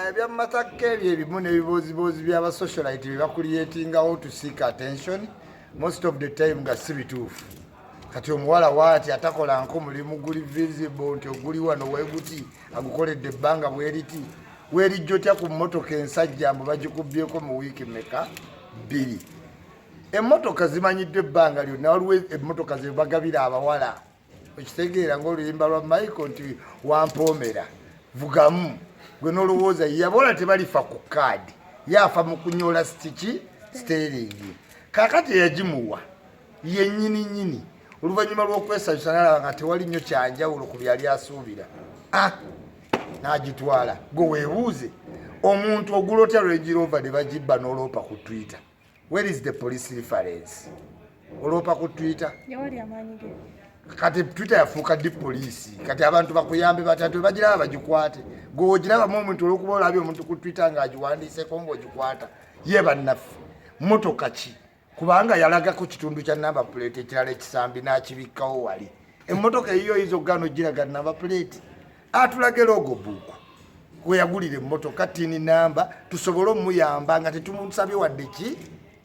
ebya matakka ebyo ebimu n'ebibooziboozi byaba socialite bye bakuliyetingawo to seek attention most of the time nga si bituufu kati omuwala waati atakola nko mulimu guli visible nti oguli wano weguti agukoledde ebbanga bweriti werijja otya ku mmotoka ensajja mbu bagikubyeko mu wiiki meka bbiri emmotoka zimanyiddwa ebbanga lyonna waliwo emmotoka zebagabira abawala okitegeera ngaoluyimba lwa michael nti wampoomera vugamu gwe nolowooza yabola tebalifa ku kaadi yafa mu kunyola sitiki siteringi kakati eyagimuwa yenyini nyini oluvannyuma lw'okwesanyusa nalaba nga tewali nnyo kyanjawulo ku byali asuubira ah, n'agitwala gwe weebuuze omuntu ogula otya lwegirova ne bagibba n'oloopa ku twitter Where is the police reference? Olopa ku Twitter. Yawali amaanyi ge. Kati Twitter yafuuka di police. Kati abantu bakuyambe batatu bagira abajikwate. Go ogira ba moment olokuba olabi omuntu ku Twitter nga ajiwandise kongo ojikwata. Ye bannafi. Moto kachi. Kubanga yalaga ku kitundu kya number plate ekirala ekisambi na kibikawo wali. Emotoka eyiyo izo gano jira gana number plate. atulage logo book kweyagulira emmotoka tini namba tusobole omuyamba nga tetumusabye wadde ki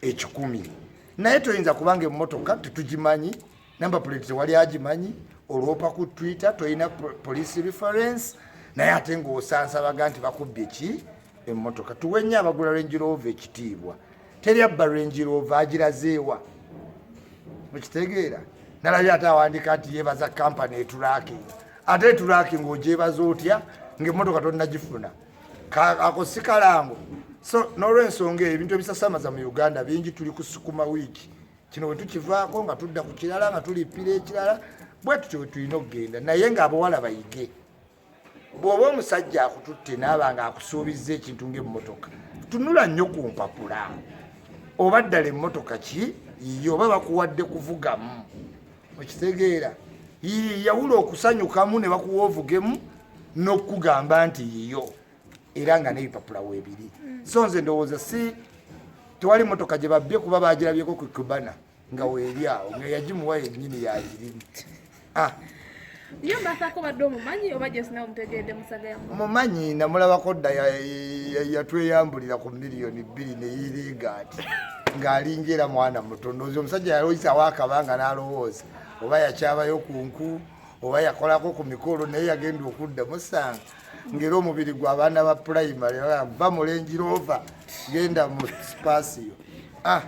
ekikumi naye toyinza kubanga emmotoka tetugimanyi namba puleti tewali agimanyi olwopa ku twitter tolina police reference naye ate ngaosansabaga nti bakubbye ki emmotoka tuwe nnyo abagula renjirova ekitiibwa teri abba range rover agirazeewa mukitegeera nalabye ate awandika nti yebaza kampani etulaking ate etulaking ogyebaza otya ngaemotoka tonagifuna ako si kalango so nolwensonga eyo ebintu ebisasamaza mu uganda bingi tuli kusukuma wiiki kino wetukivaako nga tudda ku kirala nga tulippira ekirala bwe tutyo wetulina okugenda naye nga abawala bayige bw'oba omusajja akututte naaba nga akusuubizza ekintu ngaemmotoka tunula nnyo ku mpapula oba ddala emmotoka ki yiye oba bakuwadde kuvugamu okitegeera yiye yawula okusanyukamu ne bakuwa ovugemu n'okukugamba nti yiyo era nga n'ebipapula weebiri so nze ndowooza si tewali mmotoka gye babbye kuba baagirabyeko ku kubana nga weeri awo nga yagimuwa yennyini yagirimu ah. yo mbasaako badde omumanyi oba just nawe mutegeedde musaga yamu mumanyi namulabako dda yatweyambulira ku miliyoni bbiri neyirigaati ng'alinga era mwana muto ndoozi omusajja yaloyisawo akabanga n'alowooza oba yakyabayo ku nku oba yakolako ku mikolo naye yagenda okudda musanga ngera omubiri gwa baana ba pulayimale va mu lengi roova genda mu sipaasiyo ah,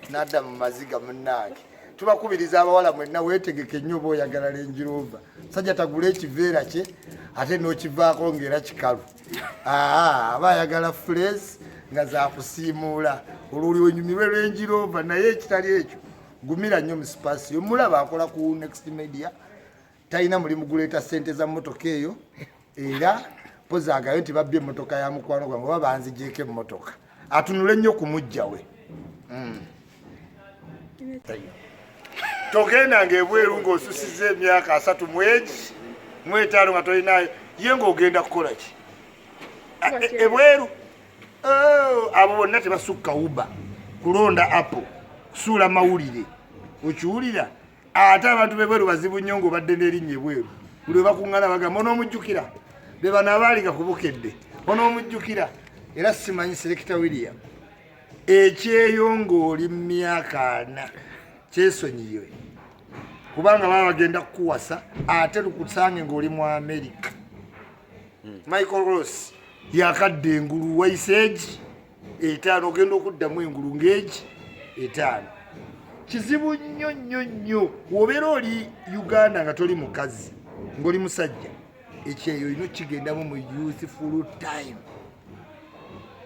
nadda mu maziga munnaage tubakubiriza abawala mwenna weetegeke nnyo oba oyagala lengi roova sajja tagula ekiveera kye ate n'okivaako ng'era kikalu ah, aba ayagala fuleesi nga zakusiimuula olwoli wenyumirwe lengi roova naye ekitali ekyo gumira nnyo mu sipaasiyo mulaba akola ku next media talina mulimu guleeta sente za mmotoka eyo era pozi agayo nti babbye emmotoka ya mukwano gwange oba banzigyeko emmotoka atunule nnyo ku mujja we hmm. togenda ngaebweru ngaosusiza emyaka asatu mwegi mwetaano nga tolinayo ye ngaogenda kukola ki ebweru oh, abo bonna tebasukka uba kulonda apple kusuula mawulire okiwulira ate abantu bebweru bazibu nnyo nga obadde nerinnya ebweru buli webakuŋŋana bagamba onoomujjukira be bano abaaliga ku bukedde onoomujjukira era simanyi selekita william ekyeyo ng'oli mu myaka ana kyesonyiwe kubanga baba bagenda kukuwasa ate lukusange ng'oli mu amerika hmm. michael ross yakadde engulu waiseegi etaano ogenda okuddamu engulu ng'egi etaano kizibu nnyo nnyo nnyo wobeera oli uganda nga toli mukazi ng'oli musajja ekyeyo olina okigendamu mu useful time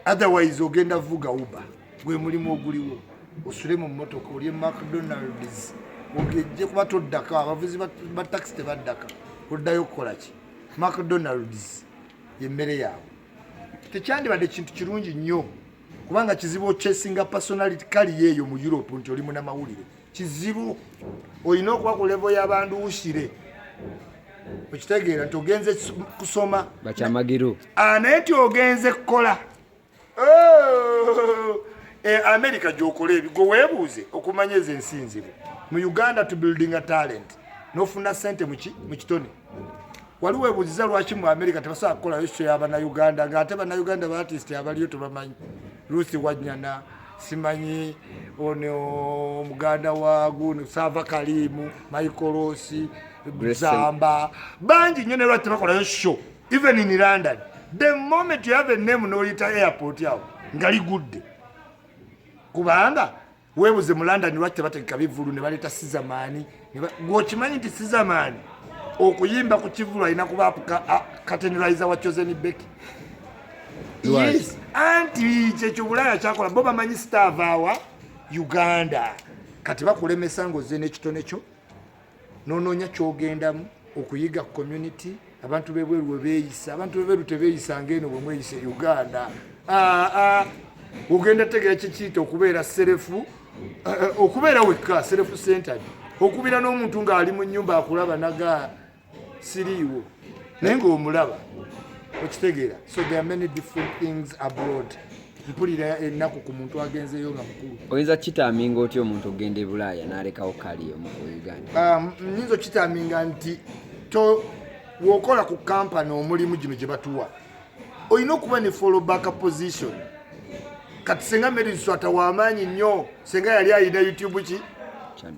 otherwise ogenda vuga uba gwe mulimu oguliwo osule mu mmotoka olye mcdonalds ogejje kuba toddaka abavuzi ba taxi tebaddaka oddayo okukola ki mcdonalds yemmere yaabwe tekyandibadde kintu kirungi nnyo kubanga kizibu okyesinga personality kali yeeyo mu europe nti oli munamawulire kizibu olina okuba ku levo yabandu usire okitegeera nti ogenze kusoma bakyamagiru ah, naye nti ogenze kukola oh! e america gyokola ebigwe weebuuze okumanya ezo ensi nzibu mu uganda to building a talent nofuna sente mu kitone wali webuziza lwaki mu america tebasobola kukolayo sho yabanauganda nga ate banauganda baartist abaliyo tebamanyi ruth wanyana simanyi ono omuganda wa guno sava kalimu maikolosi zamba bangi nyo nelwaki tebakolayo sho even in london the moment you have a name noyita airport awo ngaligudde kubanga webuze mu london lwaki tebategeka bivulu ne baleeta sizamaani gweokimanyi nti sizamaani okuyimba ku kivulu alina kuba kateneriza wa chosen beki yes anti kyekyo bulaya kyakola bo bamanyi sitavawa uganda kati bakulemesa ngaoze nekitone kyo nononya kyogendamu okuyiga community abantu bebweru webeyisa abantu bebweru tebeyisa ngaeno bwemweyisa e uganda ah, ah. ogenda tegera kikiyita okubeera serefu eh, eh, okubeera wekka serefu centered okubira n'omuntu ng'ali mu nyumba akulaba naga siriiwo naye ngaomulaba okitegeera so there are many different things abroad mpulira ennaku ku muntu agenzeeyo nga mukulu oyinza kukitaaminga otya omuntu okugenda e bulaaya n'alekawo kaali omu ku uganda um, nyinza okukitaaminga nti to wokola ku kampani omulimu gino gye batuwa olina okuba ne followback position kati senga meri nswata wamaanyi nnyo senga yali ayina youtube ki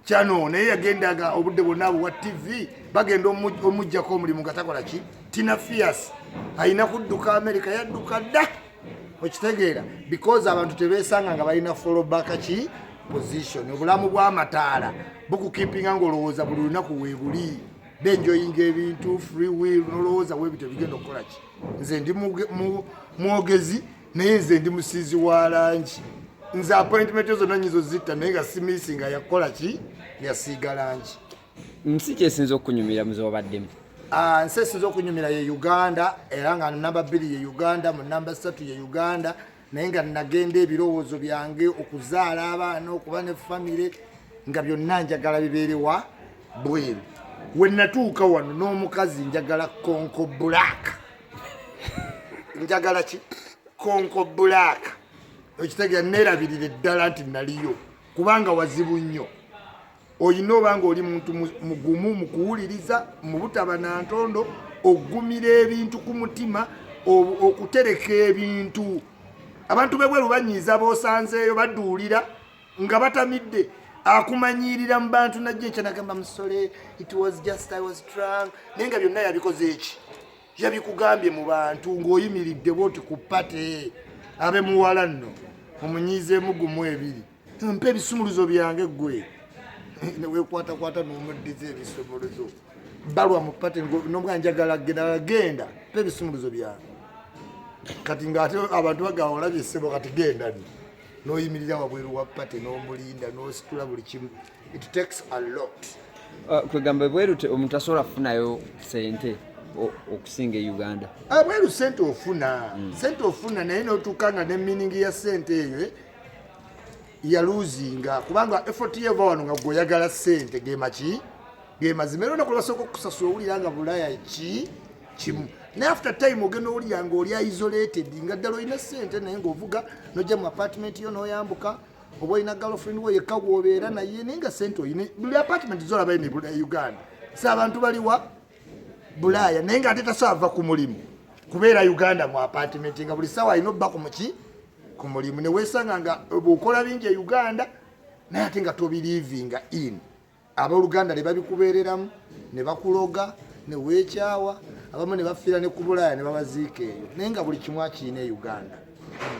kyano naye yagendaga obudde bwonna abo wa tv bagenda omugjako omulimu nga takola ki tina fias alina kudduka amerika yadduka dda okitegeera because abantu tebesanga nga balina followback ki position obulamu bwamataala bukukipinga ngaolowooza buli lunaku webuli benjoyinga ebintu free will nolowooza webi tebigenda okukola ki nze ndi mwogezi naye nze ndi musiizi wa langi nze appointment zonna nyizo zitta naye nga simisinga yakukola ki yasiiga langi nsi kyesinza okunyumira muzewabaddemu ah, nsi esinza okunyumira ye uganda era nga namba bbiri ye uganda mu namba satu ye uganda naye nga nagenda ebirowoozo byange okuzaala abaana okuba ne famire nga byonna njagala bibeerewa bweru wenatuuka wano n'omukazi njagala konko black njagala ki konko black okitegera neerabirira eddala nti naliyo kubanga wazibu nnyo olina oba nga oli muntu mugumu mu kuwuliriza mu butaba na ntondo okugumira ebintu ku mutima okutereka ebintu abantu bebweru banyiiza bosanzeeyo baduulira nga batamidde akumanyiirira mu bantu najjo ekyanagamba musole it was just i was drunk naye nga byonna yabikoze eki yabikugambye mu bantu ng'oyimiridde bwoti ku pate abe muwala nno omunyiizeemu gumu ebiri mpa ebisumuluzo byange gwe newekwatakwata nomuddiza ebisumuluzo balwa mu pate nobwa njagala genda genda mpa ebisumuluzo byange kati ngaate abantu bagawa olabye ssebo kati genda ni noyimirira wabweru wa pate nomulinda nositula buli kimu it takes a lot uh, kwegamba ebweru omuntu asobola kufunayo sente okusinga e uganda abweru ah, sente ofuna hmm. sente ofuna naye notuuka nga ne miningi ya sente eyo eh? yaluzinga kubanga effort ye eva wano nga gweoyagala sente gemaki gemazima era olunaku lwasooka okusasula owulira nga bulaya ki kimu naye after time ogenda owulira nga oli isolated nga ddala olina sente naye ngaovuga nojja mu apartment yo noyambuka oba olina girlfriend wo yekka gwobeera naye naye nga sente olina buli apartment zolabayo ne bulaya uganda sa abantu baliwa bulaya naye nga ate tasaava ku mulimu kubeera uganda mu apartment nga buli sawa alina obba ku muki ku mulimu newesanga nga bwokola bingi e uganda naye ate nga tobilivinga in aboluganda nebabikubereramu nebakuloga newekyawa abamu nebafiira ne kubulaaya nebabaziika eyo naye nga buli kimu akiina e uganda hmm.